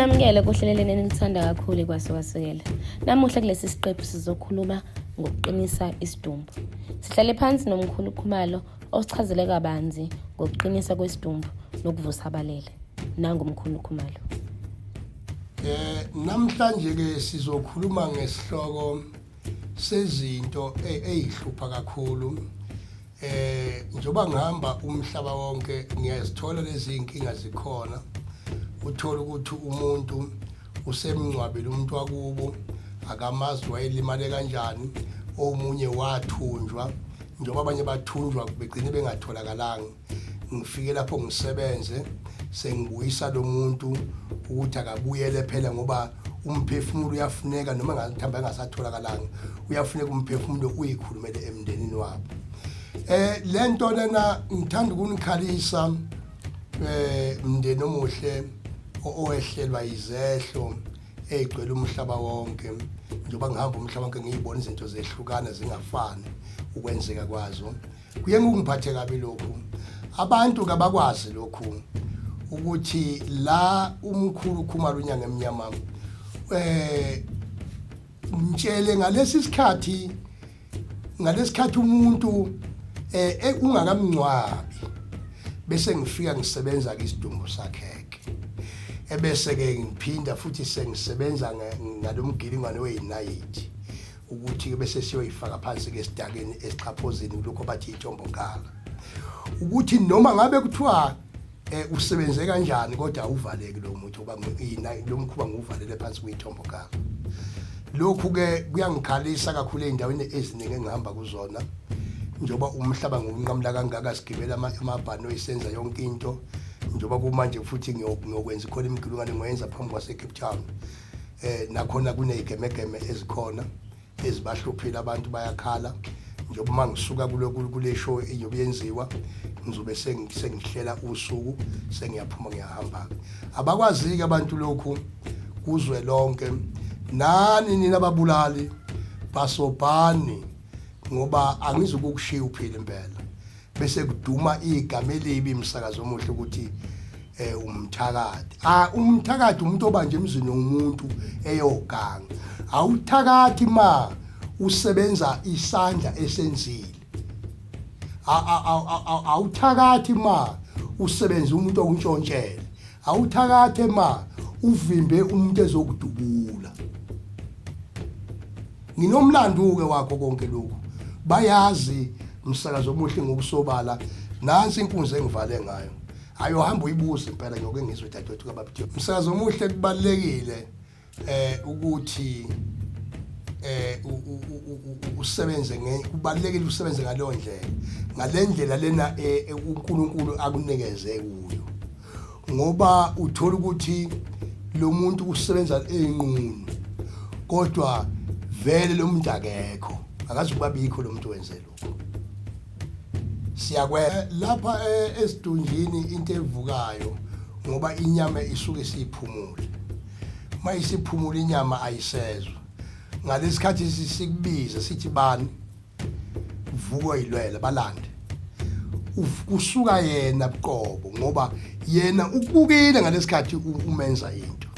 Namukele kuhleleleni enilithanda kakhulu ikwasuka-sukela. Namuhla kulesi siqephu sizokhuluma ngokuqinisa isidumbu. Sihlale phansi nomkhulu Khumalo osichazele kabanzi ngokuqinisa kwesidumbu nokuvusa abalele. Nangu umkhulu Khumalo. Eh namhlanje ke sizokhuluma ngesihloko sezinto e-, ezihlupha kakhulu eh njoba ngihamba umhlaba wonke ngiyazithola lezi inkinga zikhona uthola ukuthi umuntu usemngcwabile umuntu wakubo akamazi wayelimale kanjani omunye wathunjwa njengoba abanye bathunjwa begcine bengatholakalanga ngifike lapho ngisebenze sengibuyisa lo muntu ukuthi akabuyele phela ngoba umphefumulo uyafuneka noma ngathamba engasatholakalanga uyafuneka umphefumulo uyikhulumele emndenini wabo eh lento lena ngithanda ukunikhalisa eh mndeni omuhle owehlelwa izehlo egcwele umhlaba wonke njengoba ngihamba umhlaba wonke ngiyibona izinto zehlukana zingafani ukwenzeka kwazo kuye kungiphathe kabi lokhu abantu kabakwazi lokhu ukuthi la umkhulu ukhumala unyanga emnyama eh ngitshele ngalesi sikhathi ngalesikhathi umuntu eh, eh ungakamncwabi bese ngifika ngisebenza ke isidumbu sakhe ebese ke ngiphinda futhi sengisebenza ngalomgilingwane weyinayithi ukuthi-ke bese siyoyifaka phansi-ke esidakeni esixhaphozini kulokho bathi itombokala ukuthi noma ngabe kuthiwa eh usebenze kanjani kodwa uvaleki lo muntu ngoba ngiyina lo mkhuba ngiwuvalele phansi kuyithombo kala lokhu ke kuyangikhalisa kakhulu endaweni eziningi engihamba kuzona njoba umhlaba ngiwunqamula kangaka sigibela amabhano isenza yonke into njoba kumanje futhi ngiyokwenza khona imigilungane ngoyenza phambi kwase Cape Town eh nakhona kunezigemegeme ezikhona ezibahluphile abantu bayakhala njengoba uma ngisuka kulokhu kule show iyobe yenziwa ngizobe sengihlela usuku sengiyaphuma ngiyahamba-ke abakwazi-ke abantu lokhu kuzwe lonke nani nina babulali basobhani ngoba angizukukushiya uphile impela bese kuduma igama elibi msakazo omuhle ukuthi eh umthakathi ah umthakathi umuntu obanje emzini womuntu eyoganga awuthakathi ma usebenza isandla esenzile awuthakathi ma usebenza umuntu okuntshontshela awuthakathi ma uvimbe umuntu ezokudubula Nginomlandu-ke wakho konke lokhu. Bayazi msakazo omuhle ngokusobala nansi inkunzi engivale ngayo. Hayi uhamba uyibuze impela nyoke ngizwe dadewethu kababithe. Msakazo omuhle kubalekile eh ukuthi eh usebenze kubalekile usebenze ngaleyo ndlela. Ngalendlela lena eh, uNkulunkulu akunikeze kuyo. ngoba uthola ukuthi lo muntu usebenza eyinqunu kodwa vele lo muntu akekho akazi ukuba bikho lo muntu wenze lokho siyakwe eh, lapha eh, esidunjini into evukayo ngoba inyama isuke isiphumule mayisiphumula inyama ayisezwa ngalesikhathi sisikubiza sithi bani uvuko ilwele balande kusuka yena buqobo ngoba yena ukubukile ngalesikhathi umenza into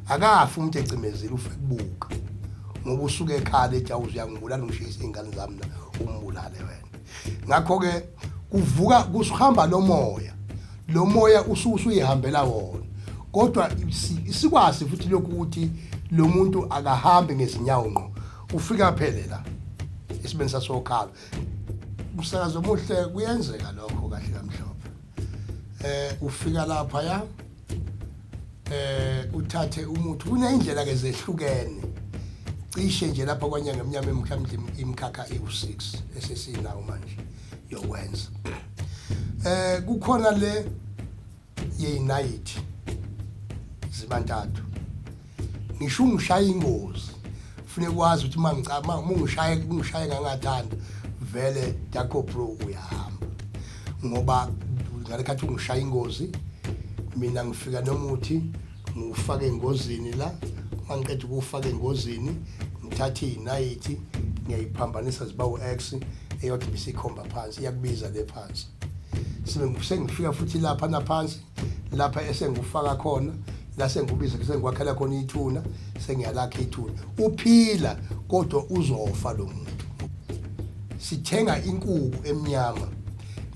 akafi umuntu ecimezile ufe kubuka ngoba usuke ekhala ethi awuzuyangibulala ngishisa iy'ngane zami na umbulale wena ngakho-ke kuvuka kusuhamba lo moya lo moya usuyihambela wona kodwa sikwazi futhi lokhu ukuthi lo muntu akahambi ngezinyawo ngqo ufika phele la isibeni sasokhala umsakazo omuhle kuyenzeka lokho kahle kamhlophe eh ufika lapha ya eh uthathe umuthi kunendlela ke zehlukene cishe nje lapha kwanyanga emnyama mhlawumbe imkhakha ewu6 esesinawo manje yokwenza eh kukhona le yeyinayithi zibantathu ngisho ungishaya ingozi funeka kwazi ukuthi uma ngicaba uma ungishaye ungishaye ngangathanda vele Daco Pro uyahamba ngoba ngalekhathi ungishaya ingozi mina ngifika nomuthi ngufake engozini la mangiqeda ukufaka engozini ngithathe inayithi ngiyayiphambanisa ziba u-x eyodwa bisikhomba phansi iyakubiza le phansi sengifika futhi lapha naphansi lapha esengikufaka khona la sengikubiza sengikwakhela khona ithuna sengiyalakha ithuna uphila kodwa uzofa lo muntu sithenga inkuku emnyama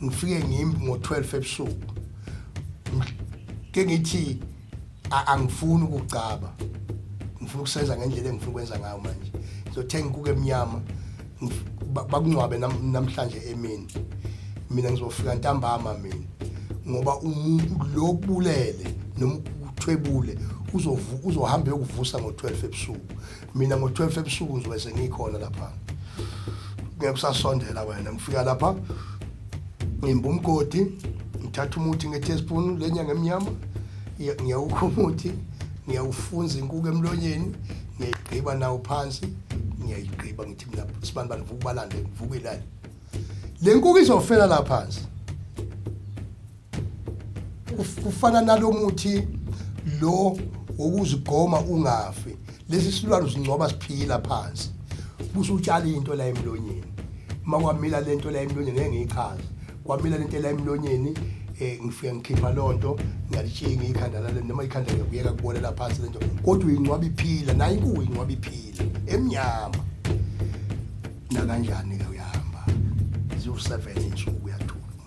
ngifike ngimbi ngo-12 ebusuku ke ngithi A- angifuni ukucaba ngifuna ukusenza ngendlela engifuna ukwenza ngayo manje ngizothenga inkuku emnyama ngif- ba- bakungcwabe nam- namhlanje emini mina ngizofika ntambama mina ngoba umuntu lo kubulele noma ukuthwebule uzovu- uzohamba eyokuvusa ngo-12 ebusuku mina ngo-12 ebusuku ngizobe sengikhona lapha ngeke usasondela wena ngifika lapha ngimba umgodi ngithatha umuthi nge-teaspoon le nyanga emnyama ngiyawukha umuthi ngiyawufunza inkuku emlonyeni ngiyayigqiba nawo phansi ngiyayigqiba ngithi mina sibani bani vuka ubalande ngivukile le nkuku izofela la phansi kufana nalomuthi lo wokuzigoma ungafi lesi silwane usingcoba siphila phansi kusho utshala into la emlonyeni uma kwamila le nto la emlonyeni ngeke ngiyichaze kwamila le nto la emlonyeni um ngifike ngikhipha loo nto ngiyalitshinga ikhanda lale noma ikhanda ngiyakuyeka kubolela phansi le nto kodwa uyingcwaba iphila naye kuwo ingcwaba iphila emnyama nakanjani-ke uyahamba ziwu-seven insuku uyathula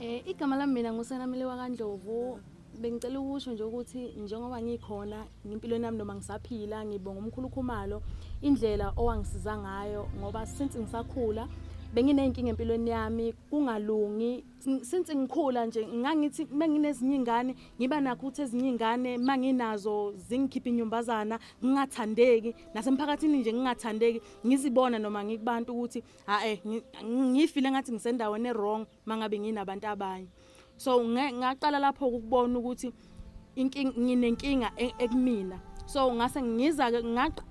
Eh igama lami mina nguSenamile waKaNdlovu bengicela ukusho nje ukuthi njengoba ngikhona ngempilweni yami noma ngisaphila ngibonga umkhulu Khumalo indlela owangisiza ngayo ngoba since ngisakhula bengineyinkinga empilweni yami kungalungi since ngikhula nje ngangithi menginezinye ingane ngiba nakho ukuthi ezinye ingane manginazo zingikhipha inyumbazana ngingathandeki nasemphakathini nje ngingathandeki ngizibona noma ngikubantu ukuthi hae ngifile ngathi ngisendaweni ewrong mangabe nginabantu abanye so ngaqala lapho ukubona ukuthi inkinga nginenkinga e, ekumina so ngase ngiza ke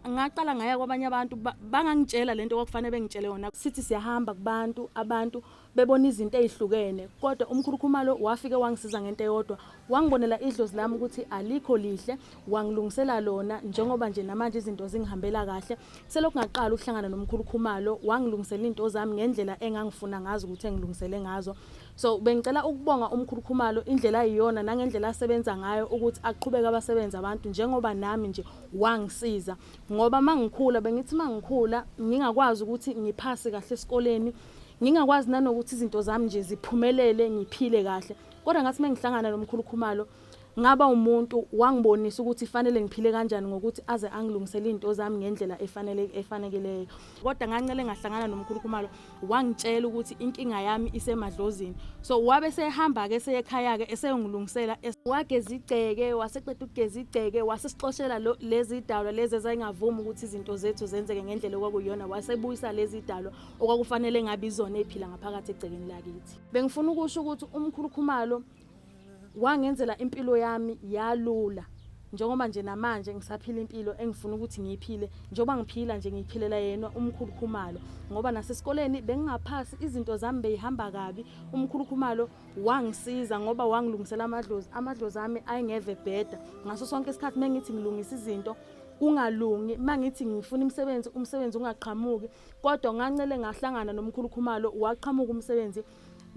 ngaqala ngaya kwabanye abantu bangangitshela lento kwakufanele bengitshele yona sithi siyahamba kubantu abantu bebona izinto ezihlukene kodwa umkhulukhumalo wafike wangisiza ngento eyodwa Wangibonela idlozi lami ukuthi alikho lihle, wangilungisela lona njengoba nje namanje izinto zingihambela kahle. Selokhu ngaqala ukuhlangana nomkhulu Khumalo, wangilungisela into zami ngendlela engangifuna ngazo ukuthi engilungisele ngazo. So bengicela ukubonga umkhulu Khumalo indlela ayiyona nangendlela asebenza ngayo ukuthi aqhubeke abasebenze abantu njengoba nami nje wangisiza. Ngoba mangikhula bengithi mangikhula ngingakwazi ukuthi ngiphase kahle esikoleni, ngingakwazi nanokuthi izinto zami nje ziphumelele ngiphile kahle. kodwa ngathi uma ngihlangana lo mkhulu khumalo ngaba umuntu wangibonisa ukuthi fanele ngiphile kanjani ngokuthi aze angilungisele izinto zami ngendlela efanele efanekeleyo kodwa ngancele ngahlangana nomkhulu khumalo wangitshela ukuthi inkinga yami isemadlozini so wabe sehamba ke seyekhaya ke eseyongilungisela wageza igceke waseqeda ukugeza igceke wasesixoshela lezi dalwa lezi ezayingavumi ukuthi izinto zethu zenzeke ngendlela okwakuyona wasebuyisa lezi dalwa okwakufanele ngabe izona ephila ngaphakathi egcekeni lakithi Bengifuna ukusho ukuthi umkhulu Khumalo wangenzela impilo yami yalula njengoba nje namanje ngisaphila impilo engifuna ukuthi ngiyiphile njengoba ngiphila nje ngiyiphilela yena umkhulu Khumalo ngoba nasesikoleni bengingaphasi izinto zami beyihamba kabi umkhulu Khumalo wangisiza ngoba wangilungisela amadlozi amadlozi ami ayengeve bheda ngaso sonke isikhathi mengithi ngilungisa izinto kungalungi mangithi ngifuna imisebenzi umsebenzi ungaqhamuki kodwa ngancele ngahlangana nomkhulu khumalo waqhamuka umsebenzi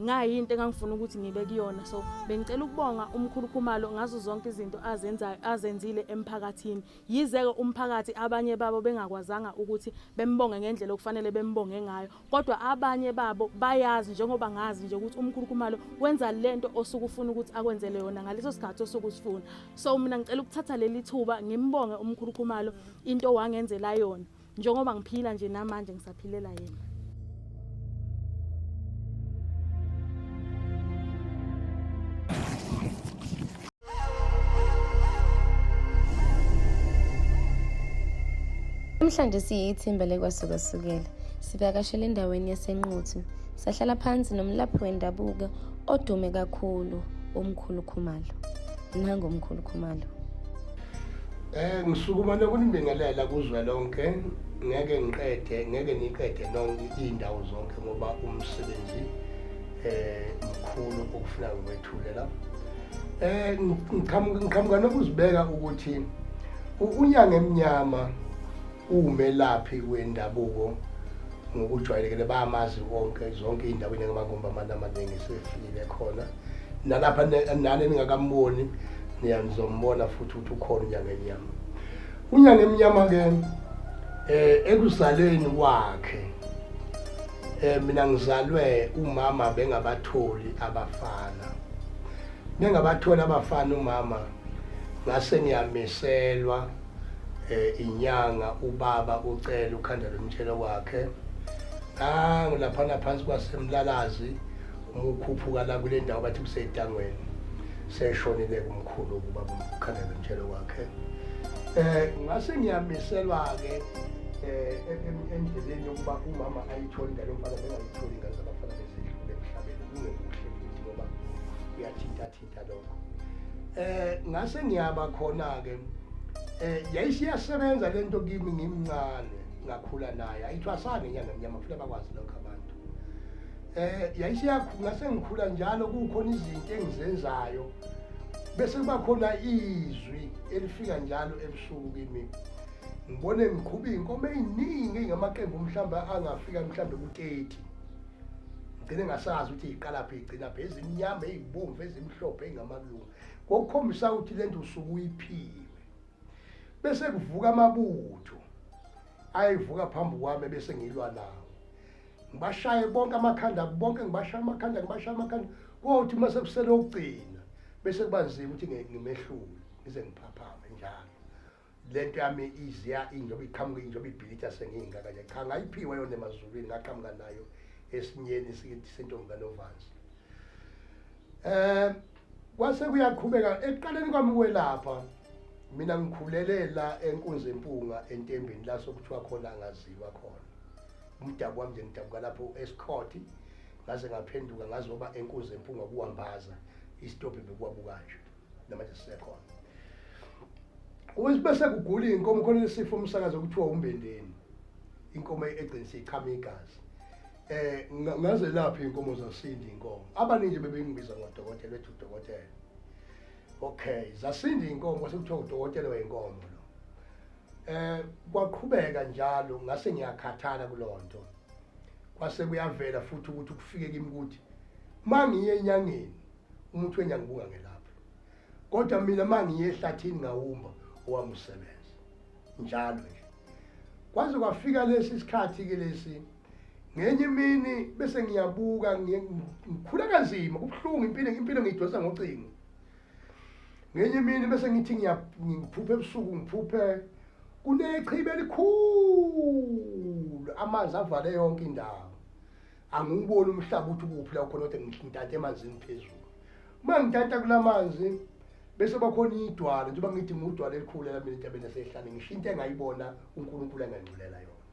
ngayinto engangifuna ukuthi ngibe kuyona so bengicela ukubonga umkhulu khumalo ngazo zonke izinto azenzayo azenzile emphakathini yizeke umphakathi abanye babo bengakwazanga ukuthi bembonge ngendlela okufanele bembonge ngayo kodwa abanye babo bayazi njengoba ngazi nje ukuthi umkhulu khumalo wenza lento osuke ufuna ukuthi akwenzele yona ngaleso sikhathi osuke usifuna so mina ngicela ukuthatha leli thuba ngimbonge umkhulu khumalo into wangenzela yona njengoba ngiphila nje namanje ngisaphilela yena Namhlanje siyithimba lekwasukasukela sivakashele endaweni yasenquthu sahlala phansi nomlaphi wendabuko odume kakhulu umkhulu khumalo nangomkhulu khumalo Eh ngisukuma nokunibingelela kuzwe lonke ngeke ngiqede ngeke niqede nonke indawo zonke ngoba umsebenzi eh mkhulu okufuna ukwethulela eh ngiqhamuka nokuzibeka ukuthi unyanga emnyama Uwumelaphi wendabuko ngokujwayelekile bayamazi wonke zonke iy'ndawo njengamangomba amane amaningi sefikile khona nalapha nani ningakamboni niyanizombona futhi ukuthi ukhona unyanga emnyama unyanga emnyama-ke um eh, ekuzaleni kwakhe um mina ngizalwe umama bengabatholi abafana bengabatholi abafana umama ngase ngiyamiselwa eh inyanga ubaba ucela ukhanda lomtshelo wakhe nangu laphana phansi kwasemlalazi umukhuphuka la kule ndawo bathi kusetangweni seshonile kumkhulu ukuba ukhanda lomtshelo wakhe eh ngase ngiyamiselwa ke eh endleleni yokuba umama ayithole ngalo mfana bengayitholi ngaze abafana besedlule emhlabeni kungekuhle futhi ngoba uyathintathinta lokho eh ngase ngiyaba khona ke eh yayisiyasebenza lento kimi ngimncane ngakhula naye ayithwasane inyanga mnyama futhi abakwazi lokho abantu eh yayisiyakhula sengikhula njalo kukhona izinto engizenzayo bese kuba khona izwi elifika njalo ebusuku kimi ngibone ngiqhuba iy'nkomo ey'ningi ey'ngamaqembu mhlawumbe angafika mhlawumbe ku-30 ngcine ngasazi ukuthi iqalaphi igcina phe ezimnyama ezibomvu ezimhlophe engamalungu kokukhombisa ukuthi lento usuku uyiphiwe bese kuvuka amabutho ayivuka phambi kwami bese ngilwa nawo ngibashaye bonke amakhanda bonke ngibashaya amakhanda ngibashaya amakhanda kothi uma sekusele ukugcina bese kubanzima ukuthi ngimehlule ngize ngiphaphame njalo lento yami iziya injoba iqhamuka injoba ibhilitha sengiyingaka nje cha ngayiphiwa yona emazulwini ngaqhamuka nayo esinyeni sikithi sentombi kanovanzi um kwase kuyaqhubeka ekuqaleni kwami kwelapha mina ngikhulele la enkunzi empunga entembeni la sokuthiwa khona angaziwa khona umdabu wami nje ngidabuka lapho esikhoti ngaze ngaphenduka ngazoba enkunzi empunga kuwambaza isitobhi bekuwabuka nje namanje sisekhona bese kugula inkomo khona lesifo umsakazo okuthiwa umbendeni inkomo egcinisa ichama igazi eh ngaze laphi inkomo zasindi inkomo abaningi bebengibiza ngodokotela ethi udokotela okay zasindi inkomo sekuthiwa udokotela wenkomo lo eh kwaqhubeka njalo ngase ngiyakhathala kulonto kwase kuyavela futhi ukuthi kufike kimi ukuthi mangiye enyangeni umuthi wenja ngibuka ngelapho kodwa mina mangiye ehlathini ngawumba owami usebenza njalo nje kwaze kwafika lesi sikhathi ke lesi ngenye imini bese ngiyabuka ngikhula kanzima kubuhlungu impilo impilo ngiyidonsa ngocingo ngenye imini bese ngithi ngiphuphe ebusuku ngiphuphe kunechibe elikhulu amanzi avale yonke indawo angiwuboni umhlaba ukuthi ukuphi la khona kodwa ngidante emanzini phezulu uma ngidanta kula manzi bese bakhona idwala njengoba ngithi ngudwala elikhulu lami entabeni yasehlane ngisho into engayibona unkulunkulu engangculela yona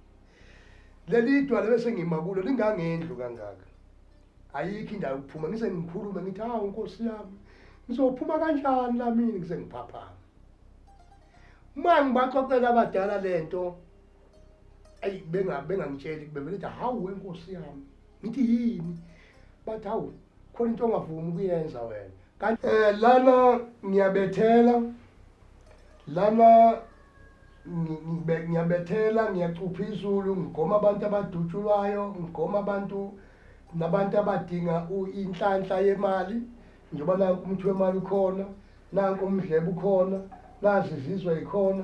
leli idwala bese ngima kulo lingangendlu kangaka ayikho indawo yokuphuma ngise ngikhulume ngithi hawu nkosi yami ngizophuma kanjani lamini ngise ngiphaphama uma ngibaxoxela abadala le nto ayi bengangitsheli kube vele ukuthi hawu wenkosi yami ngithi yini bathi hawu khona into ongavumi ukuyenza wena kanti um eh, lana ngiyabethela lana ngiyabethela ngiyacupha izulu ngigoma abantu abadutshulwayo ngigoma abantu nabantu abadinga inhlanhla yemali njengoba nanku umuthi wemali ukhona nanku umdlebe ukhona nazi izizwe ikhona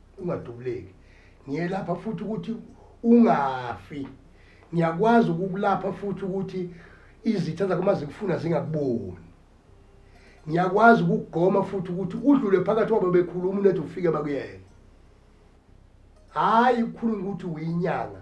ungadubuleki ngiyelapha futhi ukuthi ungafi ngiyakwazi ukukulapha futhi ukuthi izitha zakho uma zikufuna zingakuboni ngiyakwazi ukugoma futhi ukuthi udlule phakathi kwabo bekhuluma unethi ufike bakuyeke hhayi ukhuluma ukuthi uyinyanga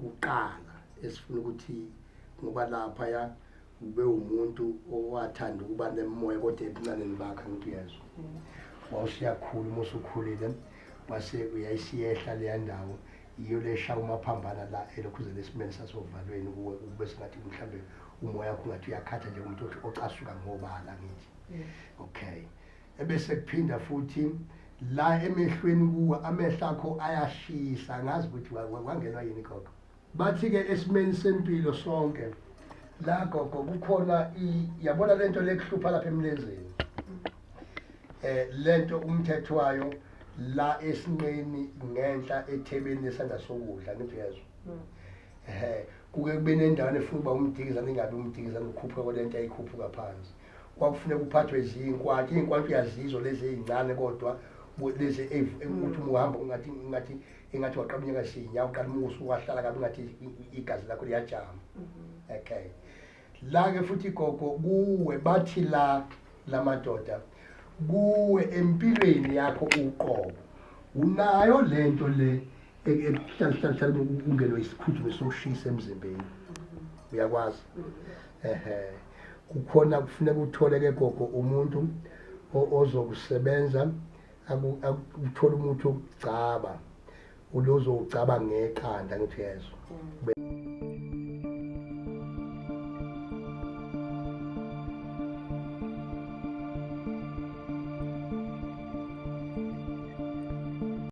kuqala esifuna ukuthi ngoba lapha ya ube umuntu owathanda ukuba nemoya kodwa ebuncaneni bakhe ukuthi uyezwa wawusiyakhula uma usukhulile wase uyayisiyehla leya ndawo yiyo lesha umaphambana la elokhu uzele esimeni sasovalweni kuwe kube singathi mhlawumbe umoya wakho ungathi uyakhatha njengomuntu ocasuka ngobala ngithi okay Ebese kuphinda futhi la emehlweni kuwe amehlo akho ayashisa ngazi ukuthi wa- wa- wangenwa yini gogo. Bathi-ke esimeni sempilo sonke la gogo kukhona i- yabona le nto lekuhlupha lapha emlenzeni eh lento umthetho wayo la esinqeni ngenhla ethebeni lesandla sokudla ngithi uyezwa ehe kuke kube nendawana efuna uba umdikizane ingabe umdikizane ukhuphuka kwalento ayikhuphuka phansi kwakufuneka uphathwe ziyinkwantsha iyinkwantsha uyazizo lezi ezincane kodwa lezi hmm. uthi uhamba ungathi ngathi engathi waqabunyeka sinya uqala umusu wahlala kabi ngathi igazi lakho liyajama hmm. okay la ke futhi gogo kuwe bathi la lamadoda kuwe empilweni yakho uqobo unayo lento le ehlalihlalihlali ungenwe isiphuthume sokushisa emzimbeni uyakwazi ehe kukhona kufuneka uthole ke gogo umuntu ozokusebenza uthole umuntu okugcaba ulozowugcaba ngeqanda ngithi yezwa